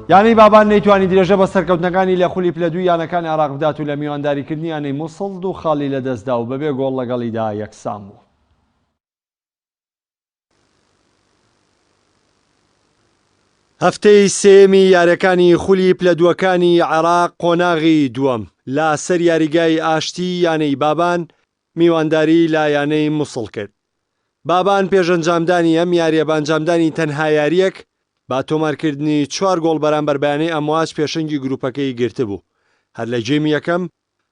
یانەی بابان نەیتوانی درێژە بە سەرکەوتنەکانی لە خولی پلە دووی یانەکانی عێراق بدات و لە میوانداریکردنی یانەی موسڵ دوو خاڵی لەدەستدا و بەبێ گۆڵ لەگەڵیدا یەکسان بوو. هەفتەی سێیەمی یارییەکانی خولی پلە دووەکانی عێراق قۆناغی دووەم، لاسەر یاریگای ئاشتی یانەی بابان میوانداریی لە یانەی موسڵ کرد. بابان پێش ئەنجامدانی ئەم یارییە بە ئەنجامدانی تەنها یارییەک بە تۆمارکردنی چوار گۆڵ بەرامبەر بە یانەی ئەمواج پێشەنگی گروپەکەی گرتبوو، هەر لە گێمی یەکەم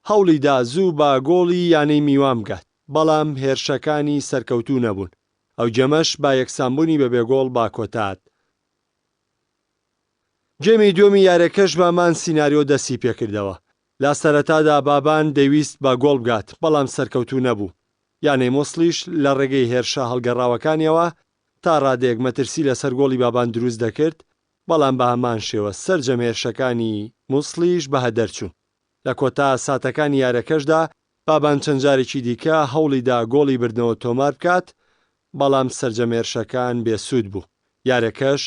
هەوڵیدا زوو بە گۆڵی یانەی میوان بگات، بەڵام هێرشەکانی سەرکەوتوو نەبوون، ئەو گێمەش بە یەکسانبوونی بە بێ گۆڵ بە کۆتاد. گێمی دووەمی یارییەکەش بە هەمان سیناریۆ دەستیپێکردەوە، لە سەرەتادا بابان دەیویست بە گۆڵ بگات، بەڵام سەرکەوتوو نەبوو. یانەی موسڵیش لە ڕێگەی هێرشە هەڵگەڕاوەکانییەوە تا ڕادەیەک مەترسی لەسەر گۆڵی بابان دروست دەکرد، بەڵام بە هەمان شێوە سەرجەم هێرشەکانی موسڵیش بە هەدەر چوون. لە کۆتا ساتەکانی یارەکەشدا بابان چەند جارێکی دیکە هەوڵی دا گۆڵی بردنەوە تۆمار بکات، بەڵام سەرجەم هێرشەکان بێسوود بوو، یارەکەش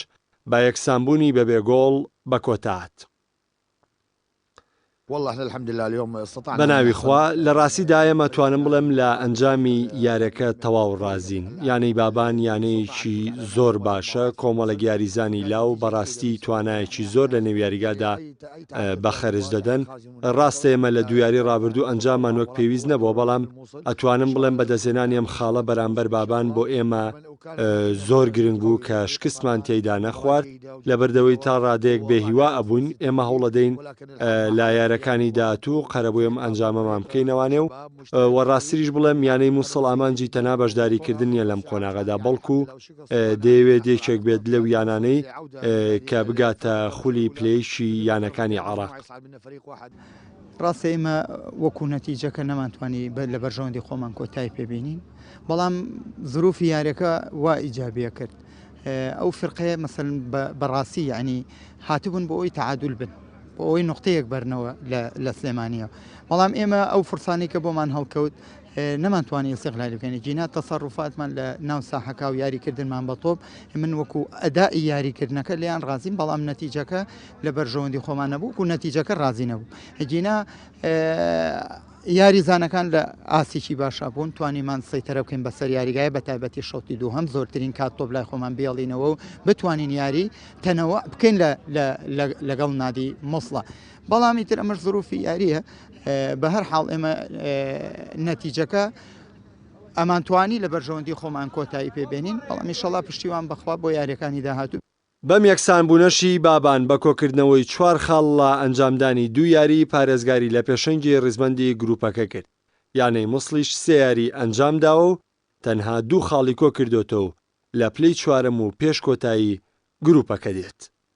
بە یەکسانبوونی بەبێ گۆڵ بە کۆتا هات. بەناوی خوا لە ڕاستی دایەم ئەتوانم بڵێم لە ئەنجامی یارەکە تەواو ڕازین یانەی بابان یانەیەکی زۆر باشە کۆمەڵێک یاریزانی لاو بەڕاستی توانایەکی زۆر لە نێویاریگادا بە خەرج دەدەن ڕاستە ئێمە لە دویاری ڕابردوو ئەنجامان وەک پێویست نەبووە بەڵام ئەتوانم بڵێم بە دەزێنانی ئەم خاڵە بەرامبەر بابان بۆ ئێمە زۆر گرنگ بوو کە شکستمان تێیدا نەخوارد، لەبەردەوەی تا ڕادەیەک بێ هیوا ئەبووین، ئێمە هەوڵەدەین لە یارەکانی داهاتوو قەرەبوی ئەم ئەنجامەمان بکەینەوانێ و وە ڕاستریش بڵێم یانەی موسڵ ئامانجی تەنها بەشداریکردن نیە لەم قۆناغەدا بەڵکو دەیەوێت یەکێک بێت لەو یانانەی کە بگاتە خولی پلەیشی یانەکانی عێراق. ڕاستە ئێمە وەکو نەتیجەکە نەمانتوانی لە بەرژەوەندی خۆمان کۆتای پێبینین بەڵام زروفی یارەکە وا ئیجابە کرد ئەو فرقەیە مەسن بەڕاستی یعنی هاتبوون بۆ ئەوی تعادل بن بۆ ئەوەی نقطەیەک بەرنەوە لە سلێمانیە بەڵام ئێمە ئەو فرسانی کە بۆمان هەڵکەوت نەمانتوانی سیغلای بکەین جینا تەسەڕوفاتمان لە ناو ساحەکە و یاریکردنمان بە تۆپ من وەکو ئەدا یاریکردنەکە لیان ڕازیم بەڵام نەتیجەکە لە بەرژەوەندی خۆمان نەبوو و نەتیجەکە ڕازی نەبوو ئەگینا یاریزانەکان لە ئاسیکی باشا بوون توانیمان سەیتەرە بکەین بەسەر یاریگای بە تایبەتی شەوتی دوو هەم زۆرترین کات تۆپ لای خۆمان بێڵینەوە و بتوانین یاری تەنەوە بکەین لەگەڵ نادی مۆسڵە بەڵامی تر ئەمەش زروفی یاریە بە هەر حاڵ ئێمە نەتیجەکە ئەمانتوانی لە بەرژەوەندی خۆمان کۆتایی پێبێنین بەڵام میشەڵا پشتیوان بەخوا بۆ یاریەکانی داهاتوو بەم یەکسانبوونەشی بابان بە کۆکردنەوەی چوار خاڵ لە ئەنجامدانی دوو یاریی پارێزگاری لە پێشەنگی ریزبەندی گرووپەکە کرد، یانەی موسڵیش سێ یاریی ئەنجامداوە و تەنها دوو خاڵی کۆکردۆتەوە و لە پلەی چوارەم و پێش کۆتایی گرووپەکە دێت.